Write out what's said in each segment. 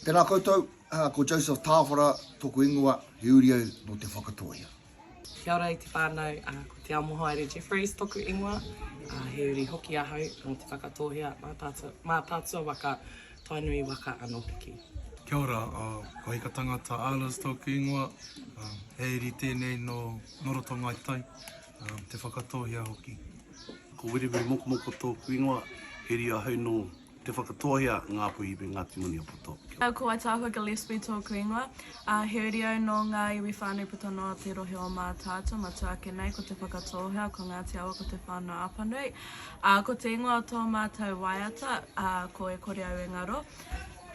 Tēnā koutou, ko Joseph Tāwhara tōku ingoa, he uri au nō Te Whakatōhea. Kia ora e te whānau, ko Te Amohaere Jeffreys tōku ingoa, he uri hoki ahau nō Te Whakatōhea, Mātaatua waka, Tainui waka anō hoki. Kia ora, ko Hika Tangata Ahlers tōku ingoa, he uri tēnei nō Roto Ngāi Tai, Te Whakatōhea hoki. Ko Wiriwiri Mokomoko tōku ingoa, he uri ahau nō Te Whakatōhea, Ngāpuhi me Ngāti Maniapoto. Kia ko Waitaahua Gillespie tōku ingoa, a Heurio nō ngā iwi whānui puta noa o te rohe o Mātaatua, matua ake nei ko Te Whakatōhea, ko Ngāti Awa ko Te Whānau Apanui. Ā, ko te ingoa o tō mātou waiata, ā, ko E Kore Au E Ngaro.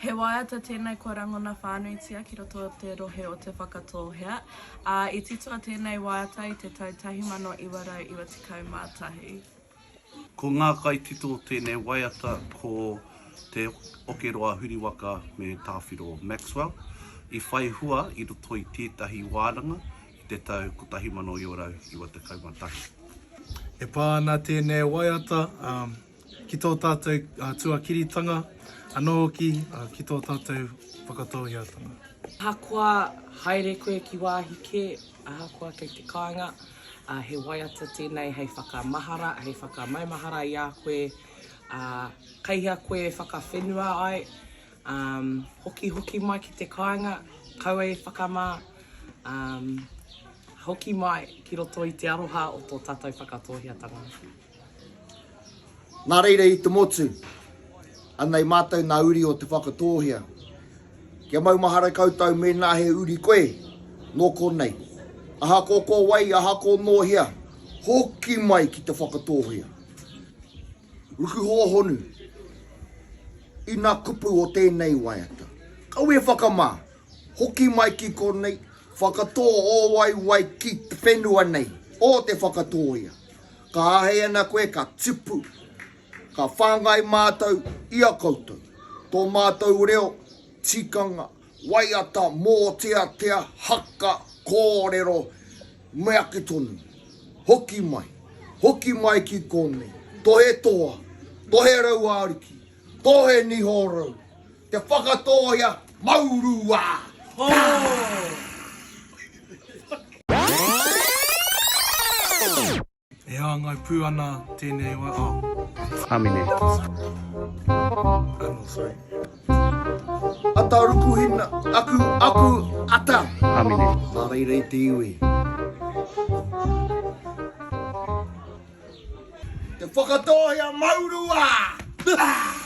He waiata tēnei kua rangona whānuitia ki roto o te rohe o Te Whakatōhea, ā, i titoa tēnei waiata i te tau 1991. Ko ngā kaitito o tēnei waiata ko Te Okeroa Huriwaka me Tāwhiro Maxwell, i whai hua i roto i tētahi wānanga i te tau 1991. E pā ana tēnei waiata ki tō tātou tuakiritanga anō hoki ki tō tātou whakatōiatanga. Ahakoa haere koe ki wāhi kē, ahakoa kei te kāinga, ā, he waiata tēnei hei whakamahara, hei whakamaumahara i a koe, ā, kei hea koe e whakawhenua ai, ā, hokihoki mai ki te kāinga, kaua e whakamā, ā, hoki mai ki roto i te aroha o tō tātou Whakatōheatanga. Nā reira i te motu, anei mātou nā uri o Te Whakatōhea. Kia maumahara koutou mēnā he uri koe nō konei. Ahakoa ko wai, ahakoa nō hea, hoki mai ki Te Whakatōhea. Ruku hōhonu i nā kupu o tēnei waiata. Kaua e whakamā! Hoki mai ki konei, whakatō ō waewae ki te whenua nei, ō te whakatōia. Ka āhei ana koe ka tipu, ka whāngai mātou i a koutou. Tō mātou reo, tikanga, waiata, mōteatea, haka, kōrero, me ake tonu. Hoki mai, hoki mai ki konei, tohe toa, tohe rauā ariki, tohe niho rau, Te Whakatōia Maurua! E hāngai pū ana tēnei wā, oh. Āmine. Ano, sorry. Ata rukuhina, aku, aku, ata. Āmine. Mā reira i te iwi. Te Whakatōia Maurua! Te Whakatōia Maurua!